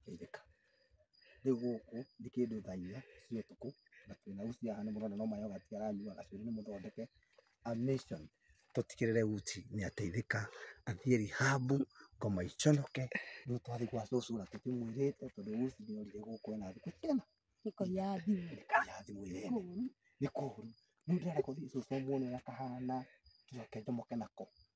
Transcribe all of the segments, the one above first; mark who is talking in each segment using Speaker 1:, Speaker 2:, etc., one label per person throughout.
Speaker 1: Geithĩka. Rĩu gũkũ nĩ kĩndũ thaa inya cia ũtukũ na twĩna usi haha nĩ mũrona no ma yoghurt aranyua gacuĩrĩ nĩ mũthondeke. A mission tũtigĩrĩre usi nĩ ateithĩka athiĩ rehab ngoma iconoke rĩu twathiĩ gwa cũcũ na tũkĩmwĩrĩte tondũ usi nĩ orire gũkũ ena thikũ cigana? Nĩkũiya thimũ.
Speaker 2: Nĩkũiya thimũ
Speaker 1: ĩrĩa ene. Nĩ kũũru. Rĩu ndĩrenda gũthiĩ cũcũ amwone ũrĩa kahana njoke njomoke nako.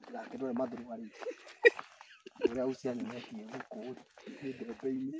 Speaker 1: ndũgakĩrore mathurũa rĩu ũrĩa ucio anyonetie gũkũ nĩ mbembe-inĩ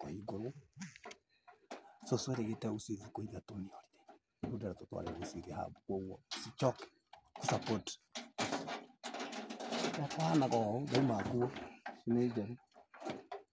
Speaker 1: Kũhingũrwo, cũcũ erĩgĩte gũcihe thikũ ithatũ nĩ holiday, rĩu ndĩrenda tũtware mũciĩ rehab koguo cicoke gũ support. Kũhanaga ũũ, ndauma nguo, ici nĩ njerũ.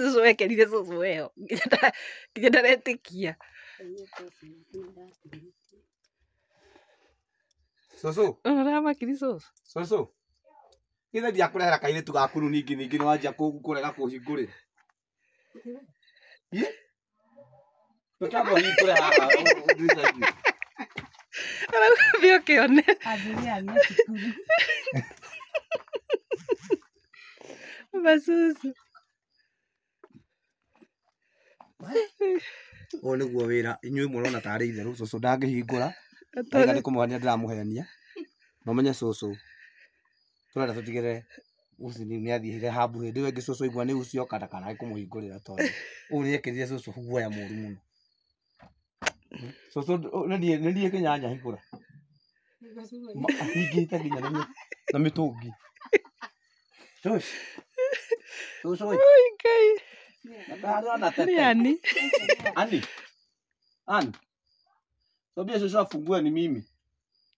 Speaker 2: cũcũ wekerire cũcũ weho nginya ndara- nginya ndaretĩkia
Speaker 1: cũcũ ũramakiri
Speaker 2: cũcũ cũcũ
Speaker 1: githĩ ndiakũrehera kairĩtu gaku rĩu ningĩ ningĩ nĩ wanjia kũ- kũrega kũhingũrĩra Twĩtagwo
Speaker 2: hingũre haha. Thiĩ ũkĩone. Ambĩrĩria nĩ cukuru. Masusu.
Speaker 1: Ũyũ nĩguo wĩra inyuĩ mũrona tarĩ itherũ cũcũ ndangĩhingũra. Aiga nĩ kũmũhenia ndĩramũhenia. Mũmenye cũcũ. tũrenda tũtigĩre usi nĩ nĩathire hambu hĩndĩ ĩyo ĩngĩ cũcũ igua nĩ usi oka ndakanae kũmũhingũrĩra tondũ ũũ nĩekĩrire cũcũ guoya mũru mũno cũcũ ũ- nĩ niĩ- nĩ niĩ kĩnyanya hingũra Ma- ahingĩte nginya na mĩ- na mĩtũngi Cũcũ. Cũcũ ĩ, Ngai, ndaharĩra
Speaker 2: na tete. nĩ ani.
Speaker 1: Ani. Ani. Mwambie Joshua afungue ni mimi.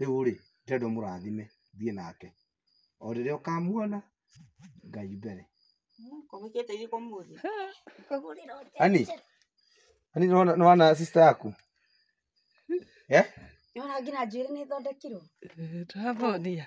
Speaker 1: rĩu-rĩ, ndĩrenda ũmũrathime thiĩ nake. O rĩrĩa ũkamuona, Ngai mbere. Ani, ani nĩwona nĩwona sister yaku? Eh?
Speaker 3: Nĩwona nginya njuĩrĩ nĩthondekirwo? Tũramũonia.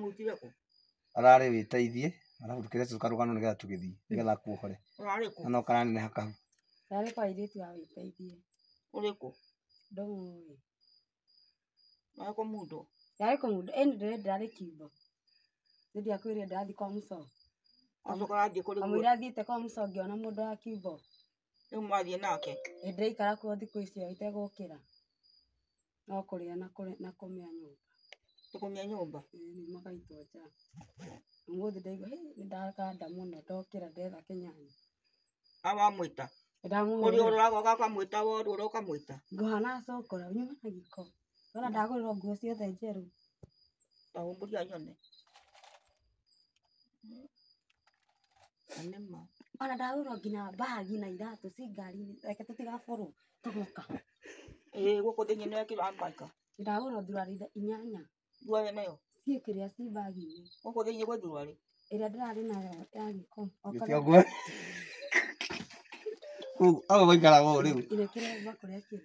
Speaker 4: mũtiga kũ ararĩ
Speaker 1: wĩteithie arabu tũkĩre cũka rũgano nĩgetha tũgĩthiĩ nĩgetha akuohore ũrarĩ kũ na no karanene
Speaker 4: hakahu
Speaker 1: Yarĩ kwa airĩtu
Speaker 3: ya wĩteithie. ũrĩ
Speaker 4: kũ Ndũmũĩ.
Speaker 3: ũrarĩ
Speaker 4: kũ mũndũ Yarĩ kwa mũndũ. Ĩni
Speaker 3: ndĩrĩ ndĩrarĩ kiugo. Nĩndĩ akwĩrire ndĩrathiĩ kwa mũco. acoka arathiĩ
Speaker 4: kũrĩ Kamũira athiĩte kwa mũco
Speaker 3: ngĩona mũndũ wa kiugo. rĩu
Speaker 4: mwathiĩ nake Ĩ ndĩraikara kuo thikũ
Speaker 3: icio itegũkĩra no kũrĩa na kũrĩ- na kũmĩa nyũmba tũkũmia
Speaker 4: nyũmba Ĩ, nĩ magaitwo
Speaker 3: nja ũmũthĩ ndaigua "Hĩ, nĩ ndaganda mũno ndokĩra ndetha kĩnyanya awamwĩta
Speaker 4: Ĩ, ndamũhũrĩra. kũrĩ ũroraga ũgakamwĩta woru ũra ũkamwĩta nguha na cũkũra
Speaker 3: nyuma na gĩko ndona ndagũrĩrwo nguo ciothe njerũ ndahũmbũria
Speaker 4: nyone Na nĩ ma. Ona ndagũrwo nginya
Speaker 3: mbagi na iratũ ci ngari-inĩ, reke tũtigaborwo tũgĩũka. Ĩĩ
Speaker 4: gũkũ thĩiniĩ nĩ wekĩrirwo hand bag. Ndagũrwo thuruarĩ
Speaker 3: inyanya. Thuruarĩ nayo?
Speaker 4: Ciĩ kĩrĩa ciĩ
Speaker 3: mbagi-inĩ. Gũkũ thĩiniĩ gwĩ thuruarĩ?
Speaker 4: Ĩrĩa ndĩrarĩ
Speaker 3: nayo ya gĩko. O Gĩkĩ kana- ũguo.
Speaker 1: Kũu hau gũikaraga ũũ rĩu. Ĩrĩa kĩremba kũrĩa kĩrĩ.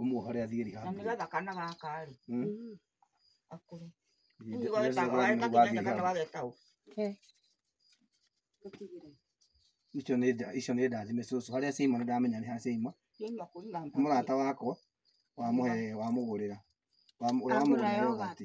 Speaker 1: ũmuohore athiĩ
Speaker 4: na rehab. nĩgetha
Speaker 1: kana
Speaker 4: gaka rĩ Mm.
Speaker 1: akũre
Speaker 4: Nĩ- nĩ- nĩ- nĩ- wathiĩ rehab. wagetaũ
Speaker 1: icio nĩ nda- icio nĩ ndathime cũcũ harĩa ciaima nĩ ndamenya nĩ harĩa ciaima
Speaker 4: mũrata wakwa
Speaker 1: wamũhe wamũgũrĩra Wamũ- ũrĩa wamũgũrĩra yogati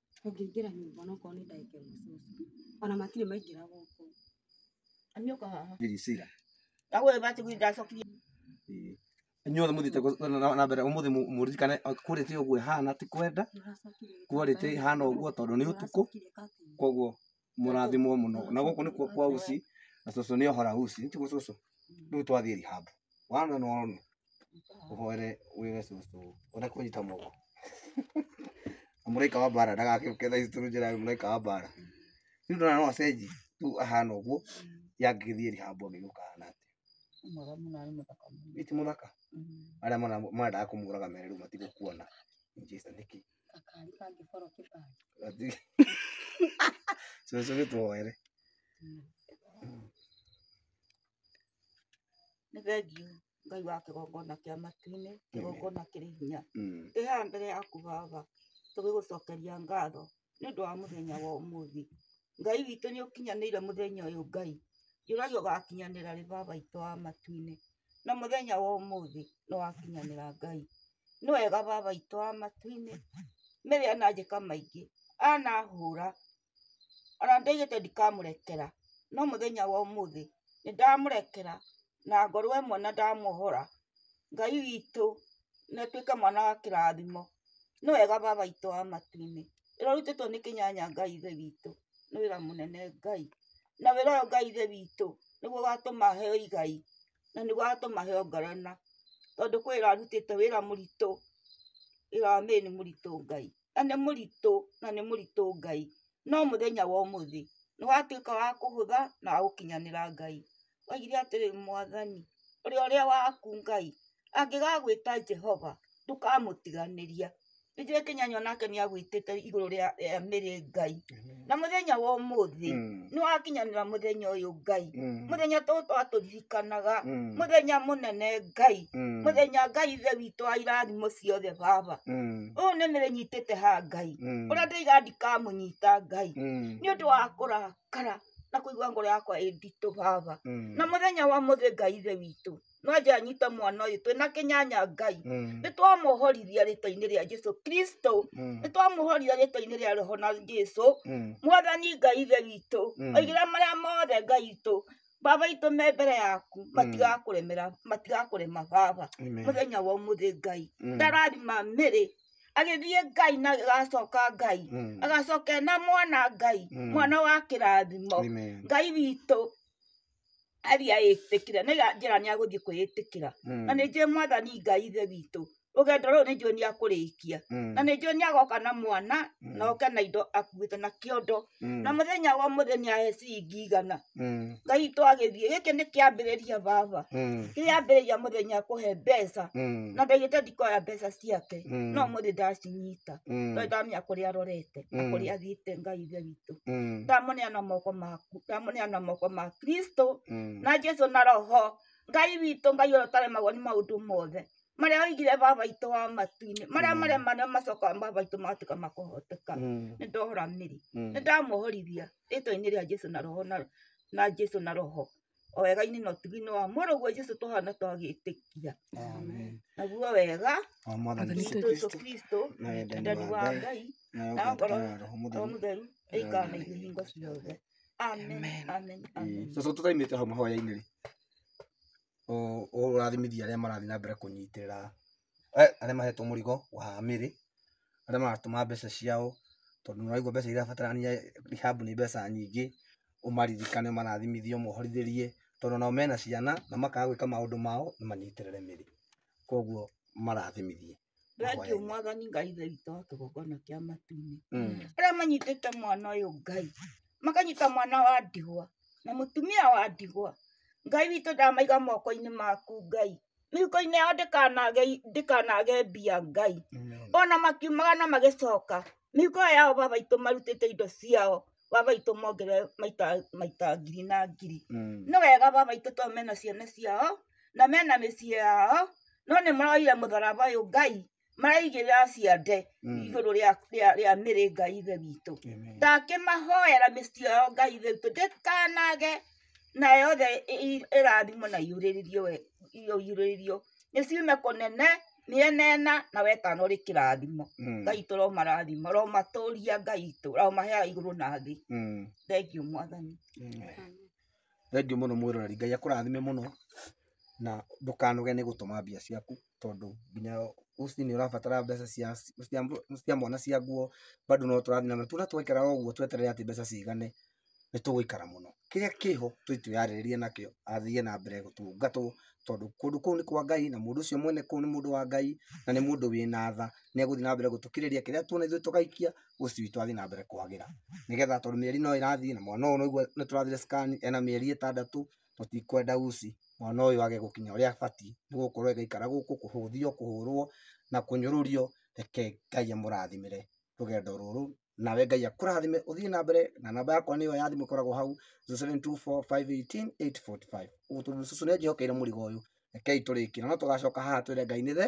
Speaker 3: ũngĩingĩra
Speaker 4: nyũmba ona okorwo nĩ ndagĩka ĩmwe cũcũ ona matirĩ maingĩra
Speaker 1: gũkũ Nyoka haha.
Speaker 4: Diricira. Ndagwe bati kuinda cokiri.
Speaker 1: Inyuothe mũthiĩte kũ- na- na- na mbere ũmũthĩ mũ- mũririkane o, quality ũguo ĩhana ti kwenda nĩũracokire quality ĩhana ũguo tondũ nĩ ũtukũ nĩũracokire kathiĩ koguo mũrathimwo mũno na gũkũ nĩkuo kwa uci na cũcũ nĩ ohora uci nĩtiguo cũcũ rĩu twathiĩ rehab wana na ũrona ũhoere wĩre cũcũ ũreke kũnyita moko na mũraika wa mbara ndagakĩũke thaa ici tũrũnjĩra mũraika wa mbara rĩu ndona no acenji rĩu ahana ũguo yangĩgĩthiĩ rehab angĩgĩũka ahana atĩ Mwega mũno
Speaker 4: arĩ mũthaka mũno. iti mũthaka
Speaker 1: arĩa mara- marendaga kũmũraga mere rĩu matigũkuona in Jesus nĩkĩ
Speaker 3: Gakari
Speaker 1: kangĩkorwo kĩbandĩ. Cũcũ gĩtwoere.
Speaker 4: Nĩ thengiũ Ngai wa kĩgongona kĩa matu-inĩ, kĩgongona kĩrĩ hinya. Mm. Ndĩ haha mbere yaku Baba, tũgĩgũcokeria ngatho nĩ ũndũ wa mũthenya wa ũmũthĩ. Ngai witũ nĩ ũkinyanĩire mũthenya ũyũ Ngai. Njũragia ũgakinyanĩra rĩ Baba witũ wa matu-inĩ. na mũthenya wa ũmũthĩ nĩ wakinyanĩra Ngai. Nĩ wega baba witũ wa matu-inĩ, Mary ananjĩka maingĩ, anahũra ona ndoigĩte ndikamũrekera, no mũthenya wa ũmũthĩ nĩ ndamũrekera na ngorwo e mwana ndamuohora. Ngai witũ nĩ atuĩke mwana wa kĩrathimo. Nĩ wega baba witũ wa matu-inĩ. Wĩra ũrutĩtwo nĩ Kĩnyanya Ngai Ithe witũ nĩ wĩra mũnene Ngai na wĩra ũyũ Ngai ithe witũ nĩguo ũgatũma heo igai na nĩguo ũgatũma heo ngarama tondũ kwĩ wĩra arutĩte wĩra mũritũ, wĩra wa Mary nĩ mũritũ Ngai na nĩ mũritũ na nĩ mũritũ Ngai no mũthenya wa ũmũthĩ nĩ watuĩka wa kũhũtha na wa gũkinyanĩra Ngai. Oigire atĩrĩ Mwathani ũrĩa ũrĩ waku Ngai angĩgagwĩta Jehova ndũkamũtiganĩria. ithuĩ kĩnyanywa nake nĩ agwĩtĩte igũrũ rĩa rĩa mĩrĩ ngai na mũthenya wa ũmũthĩ Mm. nĩ wakinyanĩra mũthenya ũyũ ngai Mm. mũthenya tũ twatũririkanaga Mm. mũthenya mũnene ngai Mm. mũthenya ngai ithe witũ wa irathimo ciothe baba Mm. ũyũ nĩ mĩrĩ nyitĩte ha ngai Mm. ũrĩa ndĩiga ndikamũnyita ngai Mm. nĩ ũndũ wa kũrakara na kũigua ngoro yakwa ĩ nditũ baba Mm. na mũthenya wa mũthĩ ngai ithe witũ nonje anyite mwana ũyũ twĩna kĩnyanya ngai Mm. nĩ twamũhorithia rĩtwa-inĩ rĩa jesu kristo Mm. nĩ twamũhorithia rĩtwa-inĩ rĩa roho na jesu Mm. mwathani ngai ithe witũ Mm. oigĩra marĩa mothe ngai itũ baba itũ me mbere yaku matigakũremera matigakũrema baba Amen. mũthenya wa ũmũthĩ ngai Mm. ndarathima mĩrĩ agĩthiĩ ngai na agacoka ngai Mm. agacoka na mwana ngai Mm. mwana wa kĩrathimo Amen. ngai witũ aria ĩtĩkire nĩ njĩra nĩ agũthiĩ kwĩĩtĩkĩra Mm. na nĩ njũĩ mwathani ngai ithe witũ rũgendo rũrũ nĩ njũĩ nĩ akũrĩkia Mm. na nĩ njũĩ nĩ agoka na mwana Mm. na oke na indo akuĩte na kĩondo Mm. na mũthenya wa mũthĩ nĩ ahe ciringi igana Mm. ngai itũ agĩthiĩ gĩkĩ nĩ kĩambĩrĩria baba Mm. kĩambĩrĩria mũthenya kũhe mbeca Mm. na ndagĩte ndikoya mbeca ciake Mm. no mũthĩ ndacinyita Mm. tondũ ndamenya kũrĩa arorete na Mm. kũrĩa athiĩte ngai ithe witũ Mm. ndamuneana moko maku ndamuneana moko ma kristo Mm. na jesu na roho ngai witũ ngai ũrĩa ũtaremagwo nĩ maũndũ mothe marĩa oigire baba itũ wa matu-inĩ marĩa Mm. marĩa manene macokaga baba itũ magatuĩka makũhoteka Mm. nĩ ndohora mĩri Mm. nĩ ndamuohorithia rĩtwa-inĩ rĩa jesu na roho na, na jesu na roho o wega-inĩ na ũtugi-inĩ wa mũrũguo Jesu tũhana twagĩtĩkia naguo wega wa mwathani witũ Jesu Jesu Kristo na wendani ndani wa wa Ngai Ngai na na ngoro ũtungata wa roho o mũtheru mũtheru ĩikara na ithuĩ hingo ciothe amen amen amen cũcũ tũtaimĩte hau mahoya-inĩ
Speaker 1: rĩ ũ- ũrathimithia arĩa marathiĩ na mbere kũnyitĩrĩra eh, arĩa mahetwo mũrigo wa mĩrĩ arĩa maratũma mbeca ciao, tondũ nĩ ũraigua mbeca irabatarania rehab nĩ mbeca nyingĩ, ũmaririkane ũmarathimithie ũmohorithĩrie, tondũ onao mena ciana na makaga gwĩka maũndũ mao nĩ manyitĩrĩre mĩri, koguo ũmarathimithie. Thengiũ ũhũthĩri.
Speaker 4: mwathani Ngai Ithe witũ wa kĩgongona kĩa matu-inĩ. Mm. Arĩa manyitĩte mwana ũyũ Ngai, makanyita mwana wa ndigwa na mũtumia wa ndigwa. Ngai witũ ndamaiga moko-inĩ maku Ngai, mĩhuko-inĩ yao ndĩkanage ndĩkanage mbia ngai ona makiumaga na magĩcoka mĩhuko ĩyo yao baba itũ marutĩte indo ciao baba itũ mongere maita maita ngiri na ngiri nĩ wega baba itũ tondũ mena ciana ciao na mena mĩciĩ yao no nĩ maroire mũtharaba ũyũ ngai maraigĩrĩra ciande Mm. igũrũ rĩa- rĩa- rĩa mĩrĩ ngai ithe witũ Amen. ndakĩmahoera mĩciĩ yao ngai ithe witũ ndĩkanage na yothe ĩ- ĩ- ĩrathimwo na iurĩrĩrio we- iyo iurĩrĩrio nĩ ciume kũnene mĩena ena na wetano rĩ kĩrathimo Mm. ngai itũ romarathima romatũria ngai itũ romaheaga igũrũ na thĩ Mm. thengiũ mwathani Amen.
Speaker 1: Thengiũ mũno mwĩroreri, Ngai akũrathime mũno, na ndũkanoge nĩ gũtũma mbia ciaku, tondũ nginya rũcinĩ nĩ ũrabatara mbeca cia cia mwana cia nguo, bado no tũrathiĩ na mbere. Tũrĩa twaikara o ũguo tweterere atĩ mbeca cigane, nĩ tũgũikara mũno. Kĩrĩa kĩho twĩ twĩyarĩrĩrie nakĩo, athiĩ na mbere gũtũngatwo, tondũ kũndũ kũu nĩ kwa Ngai, na mũndũ ũcio mwene kũu nĩ mũndũ wa Ngai, na nĩ mũndũ wĩna tha. Nĩ egũthiĩ na mbere gũtũkĩrĩria, kĩrĩa tuona ithuĩ tũgaikia. ũcio witũ athiĩ na mbere kwagĩra nĩgetha tondũ mĩeri no ĩrathiĩ na mwana ũyũ nĩguo nĩ tũrathire scan ena mĩeri ĩtandatũ tũtikwenda usi mwana ũyũ age gũkinya ũrĩa abatiĩ nĩ gũkorwo agĩikara gũkũ kũhũthio kũhũrwo na kũnyũrũrio reke Ngai amũrathimĩre rũgendo rũrũ nawe Ngai akũrathime ũthiĩ na mbere na namba yakwa nĩyo ya thimũ ĩkoragwo hau 0724518845 ũguo tondũ cũcũ nĩ anjĩhokeire mũrigo ũyũ rekei tũrĩkĩre no tũgacoka haha twĩre Ngai nĩ the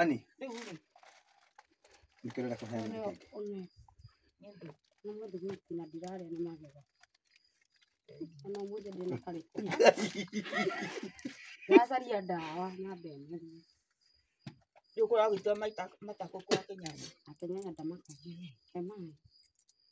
Speaker 1: Ani. Rĩu rĩ, Nĩkĩrenda kũheo ũrĩa nĩkĩ. ũme nĩ ũndũ na
Speaker 3: mũndũ gwĩki na ndirarĩa nĩ magego ona mũndũ ndĩ na karĩkũ ndacaria ndawa na mbemerie
Speaker 4: rĩu kũragwĩtua matakũkwa kĩnyanya akenyanya
Speaker 3: ndamakagia he maĩ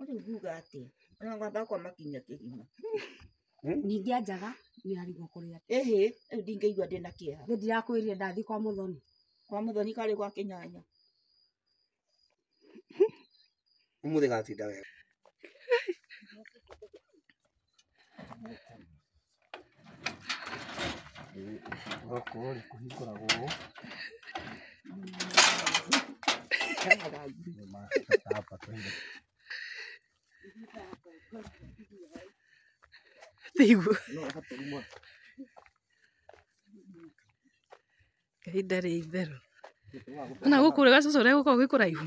Speaker 1: Ũrĩ uga
Speaker 4: atĩ ona ngwamba kwa makinya kĩgima.
Speaker 3: Ningĩ anjaga nĩ arigwo kũrĩa. Ĩhĩ, rĩu ndingĩigua
Speaker 4: ndĩ na kĩeha. Nĩ ndirakwĩrire ndathiĩ
Speaker 3: kwa mũthoni. Kwa mũthoni karĩ
Speaker 4: gwa kĩnyanya.
Speaker 1: Ũmũthĩ gatinda wega. Gũkũ rĩ kũhingũragwo ũũ.
Speaker 2: Thigũkũ. Ihinda rĩa itherũ. Ona gũkũ rĩ gacucu ũrĩa gũkoragwo gwĩ kũraihu.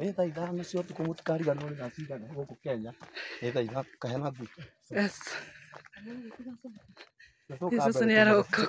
Speaker 1: Nĩ thaa ithano cia ũtukũ mũtikariganĩrwo nĩ thaa cigana gũkũ Kenya. Nĩ thaa ithano kahena mbu. Yes.
Speaker 2: Yesus nĩ arokoka.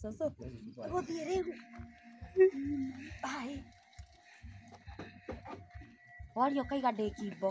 Speaker 4: Soso, agũthiĩ rĩu. Ai. Waria ũkaiga ndĩ kimbo.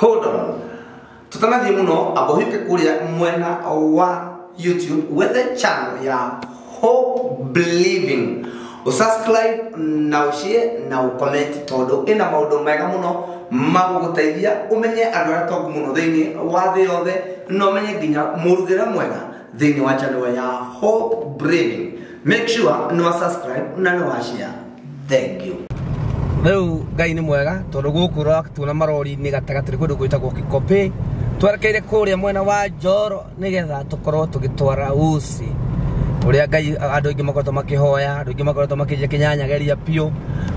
Speaker 5: Hold on. Tũtanathiĩ mũno amba ũhiũke kũrĩa mwena wa YouTube wethe channel ya Hope Believing. Ũsubscribe na ũshare na ũcomment tondũ ĩna maũndũ mega mũno magũgũteithia ũmenye andũ arĩa tongu mũno thĩinĩ wa thĩ yothe na ũmenye nginya mũrugĩre mwega thĩinĩ wa channel ya Hope Believing. Make sure nĩ wa subscribe na nĩ wa share. thengiũ rĩu
Speaker 6: ngai nĩ mwega tondũ gũkũ ũratuona marori-inĩ gatagatĩ nĩ kũndũ gwĩtagwo kĩkopĩ twerekeire kũrĩa mwena wa njoro nĩgetha tũkorwo tũgĩtwara usi ũrĩa ngai andũ aingĩ makoretwo makĩhoya andũ aingĩ makoretwo makĩnjia kĩnyanyageria biũ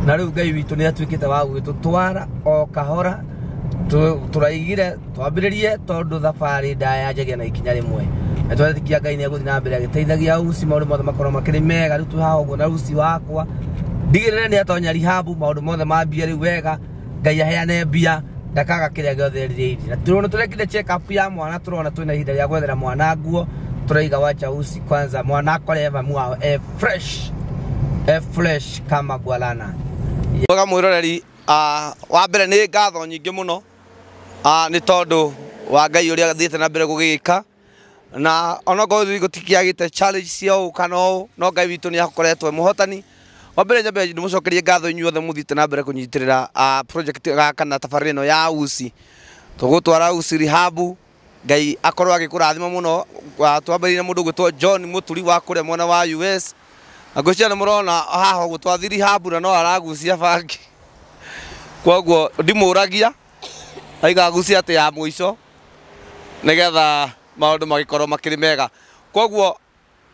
Speaker 6: na rĩu ngai witũ nĩ atuĩkĩte wa gũgĩtũtwara o kahora tũ- tũraigire twambĩrĩrie tondũ thabarĩ ndaya njagia na ikinya rĩmwe na twetĩkia ngai nĩ egũthiĩ na mbere agĩteithagia usi maũndũ mothe makorwo makĩrĩ mega rĩu twĩ haha ũguo na usi wakwa ndigĩrĩre nĩ atonya rihabu maũndũ mothe mambia rĩu wega ngai aheane mbia ndakaga kĩrĩa gĩothe erirĩirie na tũrona tũrekire check up ya mwana tũrona twĩna ihinda rĩa gwethera mwana nguo tũraiga wacha usi kwanza mwana akore eva mwao e fresh e fresh kama gwalana mwega mwiroreri wa mbere nĩ ngatho nyingĩ mũno Ah, nĩ tondũ wa ngai ũrĩa athiĩte na mbere gũgĩka na onokorwo ithuĩ gũtikiagĩte challenge cia ũũ kana ũũ no ngai witũ nĩ akoretwo e mũhotani wa mbere nyambe ndĩmũcokerie ngatho inyuothe mũthiĩte na mbere kũnyitĩrĩra ah, project ah, kana tabarĩra ĩno ya usi tũgũtwara usi rehab Ngai akorwo agĩkũrathima mũno Wa- twambĩrĩirie na mũndũ gwĩtwo John Mũturi wa kũrĩa mwena wa US na ngwĩciria nĩ mũrona haha ũguo twathiri hambu na no aragucia bangi kwoguo ndimũragia aiga agucie atĩ ya mũico nĩgetha maũndũ magĩkorwo makĩrĩ mega kwoguo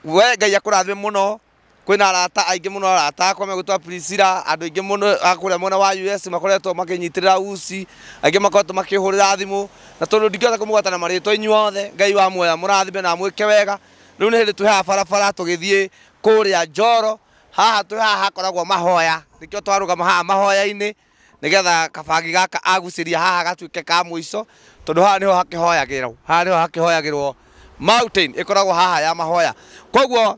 Speaker 6: we Ngai akũrathime mũno kwĩna arata aingĩ mũno arata akwa megũtwa Priscilla, andũ aingĩ mũno a kũrĩa mwena wa US makoretwo makĩnyitĩrĩra usi, angĩ makoretwo makĩhũrĩra thimũ, na tondũ ndingĩhota kũmũgweta na marĩtwa inyuothe, Ngai wa muoyo amũrathime na amwĩke wega, rĩu nĩ hĩndĩ twĩ haha barabara tũgĩthiĩ kũrĩa Njoro, haha twĩ haha hakoragwo mahoya, nĩkĩo twarũgama haha mahoya-inĩ, nĩgetha kabangi gaka agucĩria haha gatuĩke ka mũico, tondũ haha nĩho hakĩhoyagĩrwo, haha nĩho hakĩhoyagĩrwo mountain ĩkoragwo haha ya mahoya, koguo.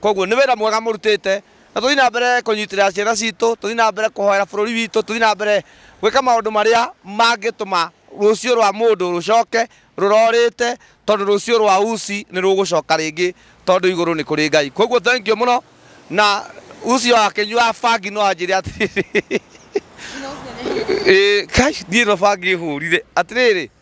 Speaker 6: koguo nĩ wĩra mwega mũrutĩte na tũthiĩ na mbere kũnyitĩrĩra ciana citũ tũthiĩ na mbere kũhoera bũrũri witũ tũthiĩ na mbere gwĩka maũndũ marĩa mangĩtũma rũciũ rwa mũndũ rũcoke rũrorĩte tondũ rũciũ rwa usi nĩ rũgũcoka rĩngĩ tondũ igũrũ nĩ kũrĩ ngai koguo thank you mũno na ucio akĩnyua bangi no anjĩre atĩrĩrĩ Ĩĩ, kai niĩ no bangi hũrire atĩrĩrĩ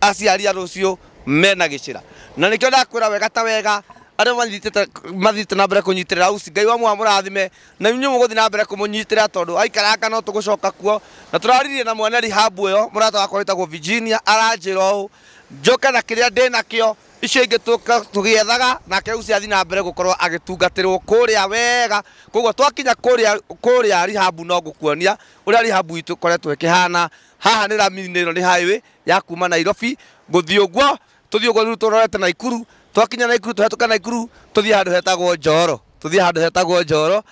Speaker 6: aciari a rũciũ mena gĩcĩra na nĩkĩo ndakwĩra wega ta wega arĩa manyitĩte mathiĩte na mbere kũnyitĩrĩra usi ngai wamwe amũrathime na inyuĩ mũgũthiĩ na mbere kũmũnyitĩrĩra tondũ aikaranga no tũgũcoka kuo na tũraririe na mwene rihabu ĩyo mũrata wakwa wĩtagwo virginia aranjĩra ũũ njoke na kĩrĩa ndĩ nakĩo icio ingĩ tũka- tũgĩethaga nake usi athiĩ na mbere gũkorwo agĩtungatĩrwo kũrĩa wega koguo twakinya kũrĩa kũrĩa rihabu no ngũkuonia ũrĩa rihabu itũ ĩkoretwo ĩkĩhana Haha nĩ ramithi ĩno nĩ highway ya kuma Nairobi gũthiĩ ũguo, tũthiĩ ũguo rĩu tũrorete Naikuru, twakinya Naikuru tũhetũke Naikuru tũthiĩ handũ hetagwo Njoro, tũthiĩ handũ hetagwo Njoro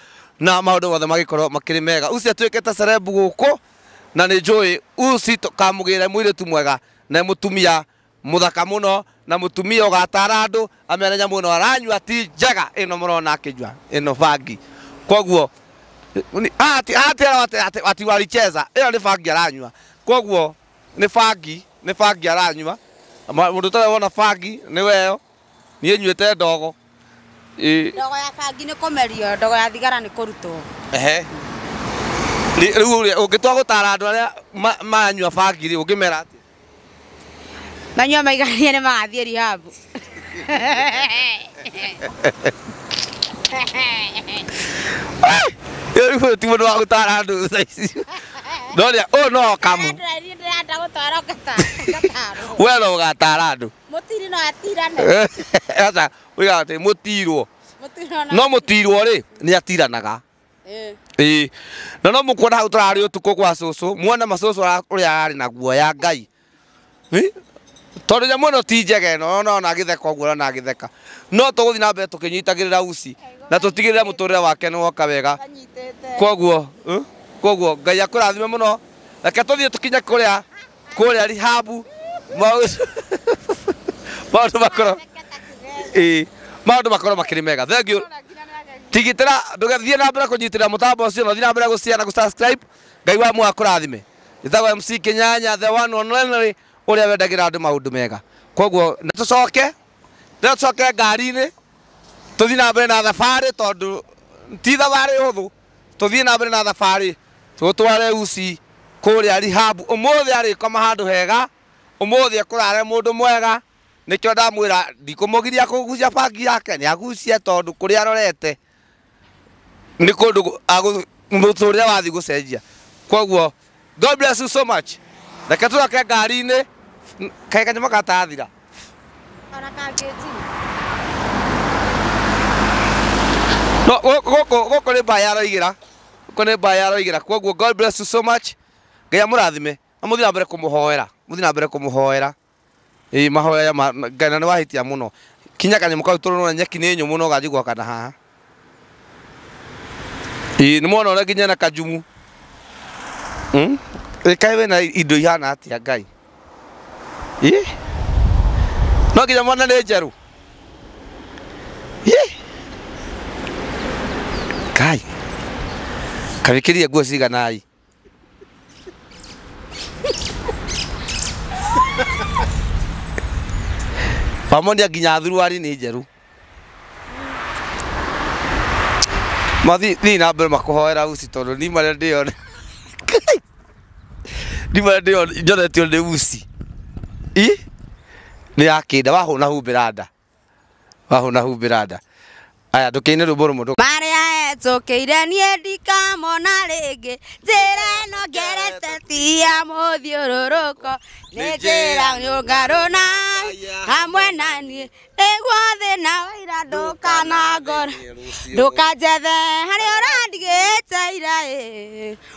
Speaker 6: na maũndũ mothe magĩkorwo makĩrĩ mega. Usi atuĩkĩte celeb gũkũ na nĩ njũĩ Usi kamũgĩre mũirĩtu mwega na e mũtumia Mũthaka mũno na mũtumia ũgatara andũ amere nyamũ ĩno aranyua ti njega ĩno mũrona akĩnyua ĩno bangi koguo ati walicheza ĩyo nĩ bangi aranyua koguo nĩ bangi nĩ bangi aranyua mũndũ ũtarĩ wona bangi nĩwe ĩyo niĩ nyuĩte ndogo. Ĩ, Ndogo
Speaker 3: ya bangi nĩ kũmerio, ndogo ya thigara nĩ kũrutwo. ehe. Rĩ-
Speaker 6: Rĩu ũrĩa- ũngĩtua gũtara andũ arĩa ma- maranyua bangi rĩ, ũngĩmera atĩa?
Speaker 3: Manyua maiganie nĩ magathiĩ rihabu.
Speaker 6: Rĩu ũyũ ti mũndũ wa gũtara andũ thaa ici. No rĩa- ũyũ no kamu. Ndĩrenda gũtwara
Speaker 3: ngata- ngatarwo.
Speaker 6: Wee no ũgatara andũ. Mũtiri
Speaker 3: no atirane. Aca,
Speaker 6: wiga ati mutirwo. Mũtiri no No mutirwo ri ni atiranaga. Eh. Ĩĩ. Na no mũkuona hau tũrarĩ ũtukũ kwa cũcũ, muone ma cũcũ ara- ũrĩa ararĩ na guoya Ngai. Ĩ? Tondũ nyamũ ĩno ti njega ĩno, ona ona agĩtheka ũguo ũrona agĩtheka. No tũgũthiĩ na mbere tũkĩnyitagĩrĩra uci na tũtigĩrĩre mũtũrĩre wake nĩ woka wega. Anyitĩte. Koguo, ĩ? Koguo Ngai akũrathime mũno. Reke tũthiĩ tũkinye kũrĩa kũrĩa rihabu maũndũ maũndũ makorwo ĩĩ maũndũ makorwo makĩrĩ mega thengiũ tigitĩra ndũgathiĩ na mbere kũnyitĩrĩra mũtambo ũcio na ũthiĩ na mbere gũcare na gũsubscribe ngai wa muoyo akũrathime njĩtagwo mc kinyanya the one and only ũrĩa wendagĩra andũ maũndũ mega koguo na tũcoke na tũcoke ngari-inĩ tũthiĩ na mbere na thabarĩ tondũ ti thabarĩ hũthũ tũthiĩ na mbere na thabarĩ tũtware usi kũrĩa rehab ũmũthĩ arĩkoma handũ hega ũmũthĩ ekũrare mũndũ mwega nĩkĩo ndamwĩra ndikũmũgiria kũgucia bangi yake nĩ agucie tondũ kũrĩa arorete nĩ kũndũ mũtũrĩre wathiĩ gũcenjia kwoguo God bless you so much. Reke tũgake ngari-inĩ kaĩ kanyama gatathira. Ona
Speaker 3: kangĩnjini.
Speaker 6: No, gũ- gũkũ gũkũ nĩ mbaa ya roigĩra gũkũ nĩ mbaa ya roigĩra kwoguo god bless you so much ngai amũrathime na mũthiĩ na mbere kũmũhoera mũthiĩ na mbere kũmũhoera Ĩĩ mahoya ya ma, na- Ngai na nĩwahĩtia mũno. Kinya kanyamũ kau tondũ nĩwona nyeki nĩ nyũmũ no ganjigua kana haha. Ĩĩ nĩmwona ũrĩa nginya na kajumu. Hmm? Ĩ kaĩ wĩna indo ihana atĩa Ngai? Ĩ? No nginya mwana nĩ njerũ? Ĩ! Ngai. Kaĩ wĩkĩrire nguo cigana i? wamonia nginya thuruari nĩ njerũ mathi thiĩ na mbere makũhoera uci tondũ ni marĩa ndĩyone ni marĩa ndĩyone njoretio nĩ uci i nĩ yakĩnda wahũna humbĩra nda wahũna humbĩra nda aya tũkĩine rwĩmbo rũmwe tũ- marĩa etũkĩire
Speaker 3: niĩ ndikamona rĩngĩ njĩra ĩno ngerete ti ya mũthiũrũrũko nĩ njĩra nyũngarũ na hamwe na niĩ nĩguo thĩna waira ndũkanangora ndũkanjethe harĩa ũrandigĩte ira ĩ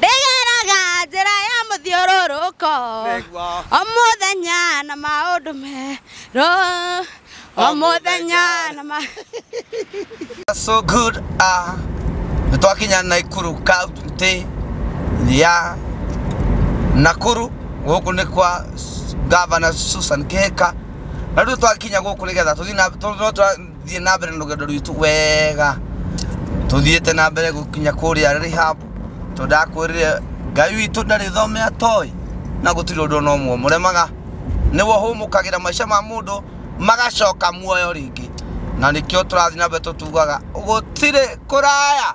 Speaker 3: Ndĩgeraga njĩra ya mũthiũrũrũko Nĩguo. o mũthenya na maũndũ merũ o mũthenya na ma
Speaker 6: so good ah nä twakinya naikuru kauntä ya nakuru gå kå nä kwa gavana susan kä hä ka na rä u twakinya gå kå nä getha tå tũrathiĩ na mbere na rũgendo rwitũ wega tũthiĩte na mbere gũkinya kũrĩa rehab tondũ ndakwĩrire ngai witũ ndarĩ thome atoĩ na gũtirĩ ũndũ ona ũmwe mũremaga nĩwe ũhũmũkagĩra maica ma mũndũ magacoka muoyo rĩngĩ na nĩkĩo tũrathiĩ na mbere tũtugaga gũtirĩ kũraya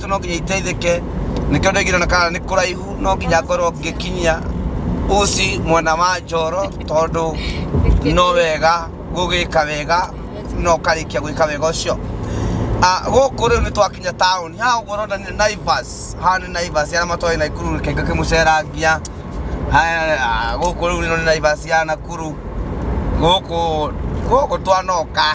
Speaker 6: itũ no nginya iteithĩke nĩkĩo ndaigire na kana nĩ kũraihu no nginya ngorwo ngĩkinyia usi mwena wa njoro tondũ no wega gũgĩka wega no karĩkia gwĩka wega ũcio Ah, gũkũ rĩu nĩ twakinya taũni haha ũguo ũrona nĩ naivas haha nĩ naivas ya arĩa matwaĩ naikuru rĩkenga kĩmũcerangia Haya, ah, gũkũ rĩu nĩ naivas ya nakuru gũkũ gũkũ twanoka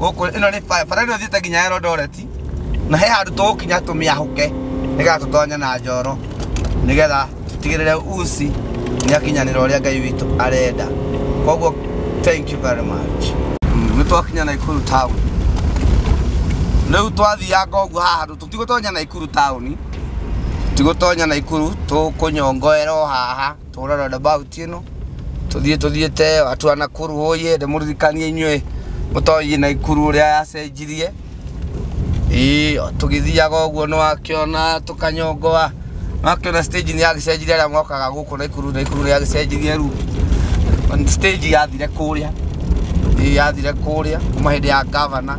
Speaker 6: gũkũ ĩno nĩ bara bara ĩno ĩthiĩte nginya Elondoreti na he handũ tũgũkinya tũmĩahũke nĩgetha tũtonye na njoro nĩgetha tũtigĩrĩre usi nĩakinyanĩra ũrĩa ngai witũ arenda koguo thank you very much nĩ twakinya naikuru town rĩu twathianga ũguo haha handũ tũtigũtonya naikuru town tigũtonya naikuru tũkũnyongoera o haha tũhũra na ndabauti ĩno tũthiĩ tũthiĩte watu wa nakuru ũyĩ ndĩmũririkanie inyuĩ mũtoĩ naikuru ũrĩa yacenjirie Ĩĩ, o tũgĩthiaga ũguo nĩ wakĩona tũkanyongoa wakĩona stage nĩ yagĩcenjirie arĩa mokaga gũkũ naikuru naikuru nĩ yagĩcenjirie rĩu stage yathire kũrĩa Ĩĩ, yathire kũrĩa kuma hĩndĩ ya gavana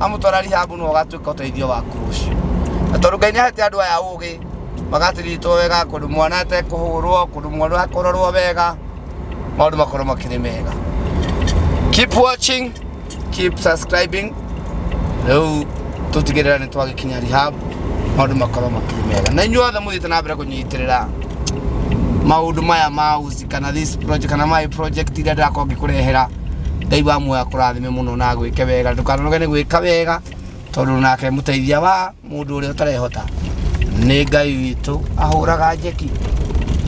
Speaker 6: amũtwara rihabu no agatuĩka ũteithio waku rũciũ na tondũ ngai nĩahete andũ aya ũgĩ magatiritwo wega kũndũ mwana atekũhũrwo kũndũ mwana akũrorwo wega maũndũ makorwo makĩrĩ mega keep watching keep subscribing rĩu tũtigĩrĩra nĩ twagĩkinya rehab maũndũ makorwo makĩrĩ mega na inyuothe mũthiĩte na mbere kũnyitĩrĩra maundu maya ma uzi kana this project kana my project iria ndirakorwo ngĩkũrehera ngai wa muoyo akũrathime mũno na agwĩke wega ndũkanoge nĩ gwĩka wega tondũ nake mũteithia wa mũndũ ũrĩa ũtarehota nĩ ngai witũ ahũraga njeki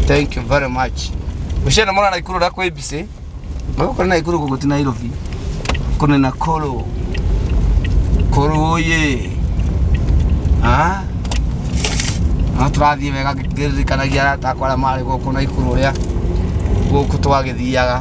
Speaker 6: thank you very much ũciana mwana naikuru na kwĩ mbicĩ magũkũ nĩ naikuru gũkũ ti nairobi kũ nĩ nakũrũ kũrũ ũyĩ Ah? no tũrathiĩ wega ngĩririkanagia arata akwa arĩa marĩ gũkũ naikuru ũrĩa gũkũ twagĩthiaga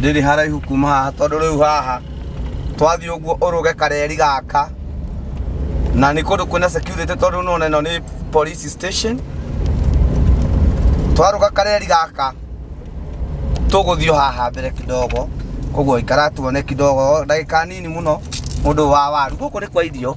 Speaker 6: ndĩrĩ haraihu kuma haha tondũ rĩu haha twathiĩ ũguo ũrũge kareri gaka na nĩ kũndũ kwĩna security tondũ nona ĩno nĩ police station twarũga kareri gaka tũgũthiĩ o haha mbere kidogo koguo ikara tuone kidogo ndagĩka nini mũno mũndũ wa waru gũkũ nĩ kwa irio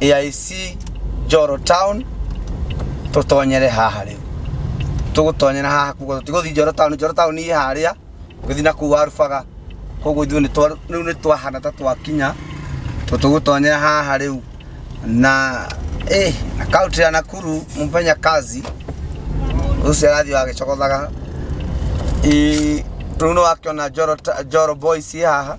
Speaker 6: AIC Njoro Town tutonyere haha riu tugutonyera haha kugo tiguthi Njoro Town Njoro Town ni haria guthi na kuwa rubaga koguo ithuĩ nĩtwa- rĩu nĩ twahana ta twakinya tũ- tũgũtonyera haha rĩu na eh, na kaunti ya nakuru mũmenya kazi ũcio arathiĩ wagĩcogothaga Ĩ, rĩu nĩ wakĩona Njoro ta- njoro boys ĩ haha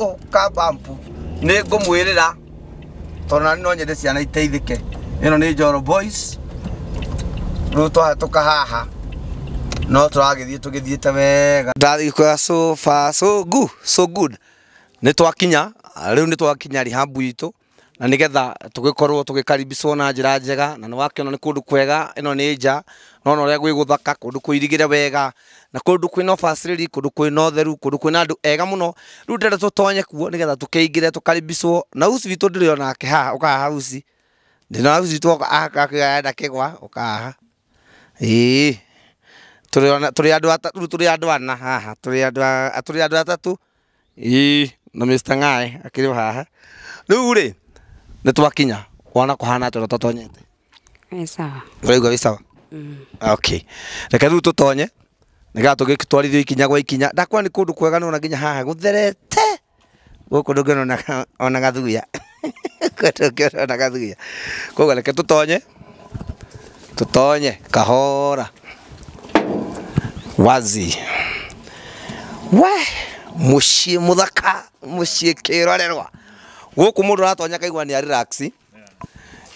Speaker 6: Ũ, kabampu nĩ ngũmwĩrĩra tondũ nani no nyende ciana iteithĩke ĩno nĩ njoro boys rĩu twahĩtũka haha no tũragĩthiĩ tũgĩthiĩte wega ndarĩkwega so far so good so good nĩ twakinya rĩu nĩ twakinya rehab itũ na nĩgetha tũgĩkorwo tũgĩkaribicwo na njĩra njega na nĩwakĩona nĩ kũndũ kwega ĩno nĩ nja nona ũrĩa gwĩ gũthaka kũndũ kũirigĩre wega na kũndũ kwĩna ũbacĩrĩri kũndũ kwĩna ũtheru kũndũ kwĩna andũ ega mũno rĩu ndĩrenda tũtonye kuo nĩgetha tũkĩingĩre tũkaribicwo na usi witũ ndĩrĩ onake haha ũka haha usi ndĩna usi witũ oka haha akĩoya enda kĩgwa ũka haha ĩĩ tũrĩ ona- tũrĩ andũ ata- rĩu tũrĩ andũ ana haha tũrĩ andũ a- tũrĩ andũ atatũ Ii na Mr Ng'aĩ akĩrĩ o haha rĩu rĩ nĩ twakinya wana kũhana atĩa tũtatonyete Nĩ sawa.
Speaker 3: ũraigua wĩ sawa
Speaker 6: okay reke rĩu tũtonye nĩgetha tũgĩtwarithio ikinya gwa ikinya ndakwĩra nĩ kũndũ kwega nĩ wona nginya haha gũtherete gũkũ ndũngĩona ona ga- ona gathuya Kũrĩa na gathuya. Koguo reke tũtonye, tũtonye kahora. Wazi. Wee! Mũciĩ mũthaka, mũciĩ kĩrorerwa. Gũkũ mũndũ aratonya akaigua nĩ a relax.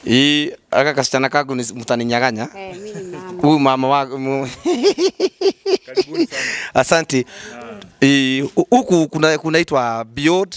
Speaker 6: Ii, aka kasichana kaku ni mtaninyaganya. Eh, mimi ni mama. Huyu mama wa mu- Asante. Ii, Huku kuna kunaitwa Beyond